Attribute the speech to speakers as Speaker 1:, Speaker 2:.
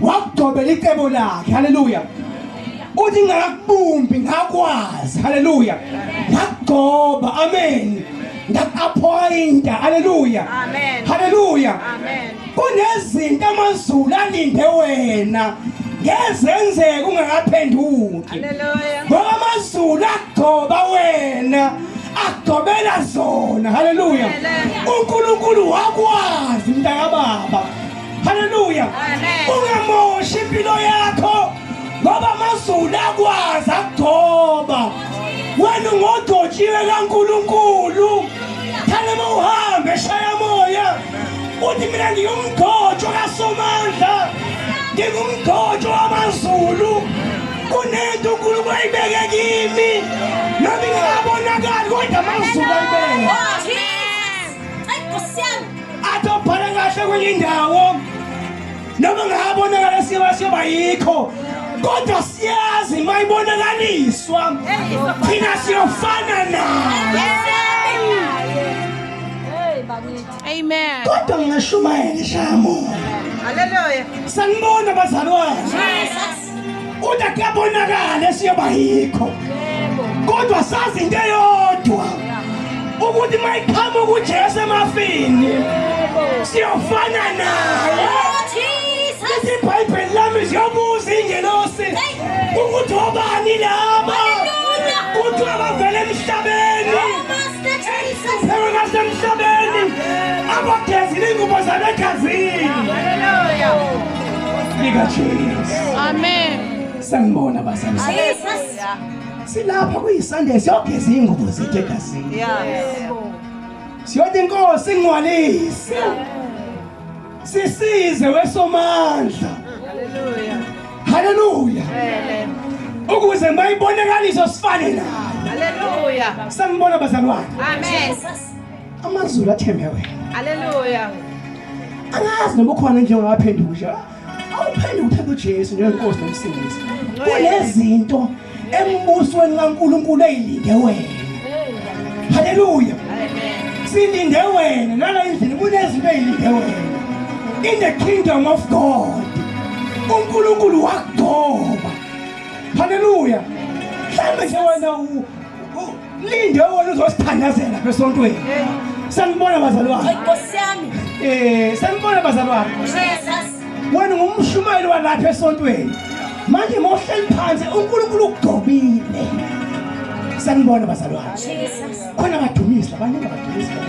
Speaker 1: wakugcobela icebo lakhe haleluya uthi ngakubumbi ngakwazi haleluya ngakugcoba amen ngakaphoyinta haleluya haleluya
Speaker 2: kunezinto
Speaker 1: amazulu alinde wena ngezenzeke ungakaphenduki ngoba
Speaker 2: amazulu
Speaker 1: agcoba wena agcobela zona haleluya unkulunkulu wakwazi mntakababa Haleluya.
Speaker 2: Ungamoshi impilo
Speaker 1: yakho ngoba amazulu akwazi akugcoba. Wena ungodotshiwe kaNkulunkulu. Thana mawuhambe shaya moya. Uthi mina ngiyumgcotsho kaSomandla. Ngingumgcotsho wamazulu. Kunento uNkulunkulu ayibeke kimi. Nami ngingabonakali kodwa amazulu ayibeke. athi obhala kahle kwenye indawo noma ngabonakala siyoba siyoba yikho kodwa siyazi mayibonakaliswa thina siyofana naye
Speaker 2: Amen. Kodwa
Speaker 1: ngingashumayela shamo. Hallelujah.
Speaker 2: Sanibona
Speaker 1: bazalwane.
Speaker 2: Uthi
Speaker 1: kuyabonakala esiyoba yikho. Kodwa sazi into eyodwa. Ukuthi mayiqhamuka uJesu emafini. Siyofana naye. Lithi iBhayibheli lami siyobuza ingelosi ukuthi obani laba. Kuthiwa bavele emhlabeni. Phela ngasemhlabeni. Abagezile ingubo zabegazini. Sika Jesus. Amen.
Speaker 2: Sangbona
Speaker 1: bazali. Jesus.
Speaker 2: Silapha
Speaker 1: kuyiSunday siyogeza ingubo zethu egazini. Yeah.
Speaker 2: Siyothi
Speaker 1: inkosi ingwalise. Sisize wesomandla. Hallelujah.
Speaker 2: Hallelujah.
Speaker 1: Amen.
Speaker 2: Ukuze
Speaker 1: mayibonakalise sifane nayo. Hallelujah.
Speaker 2: Sangbona
Speaker 1: bazalwane. Amen. Jesus.
Speaker 2: amazulu
Speaker 1: athembe wena haleluya angazi noma ukhona nje ongaphendukisha awuphenduka uthatha ujesu njengenkosi nomsindisi kunezinto embusweni kankulunkulu eyilinde wena haleluya
Speaker 2: silinde wena
Speaker 1: nala endlini kunezinto eyilinde wena in the kingdom of god unkulunkulu wakugcoba haleluya mhlawumbe nje wena Linde wona uzosithandazela besontweni. Sanibona bazalwane. Inkosi yami. Eh, sanibona bazalwane. Jesus. Wena ngumshumayeli walapha esontweni. Manje mohleli phansi uNkulunkulu ugcobile. Sanibona bazalwane. Jesus. Khona badumisa, baningi badumisa.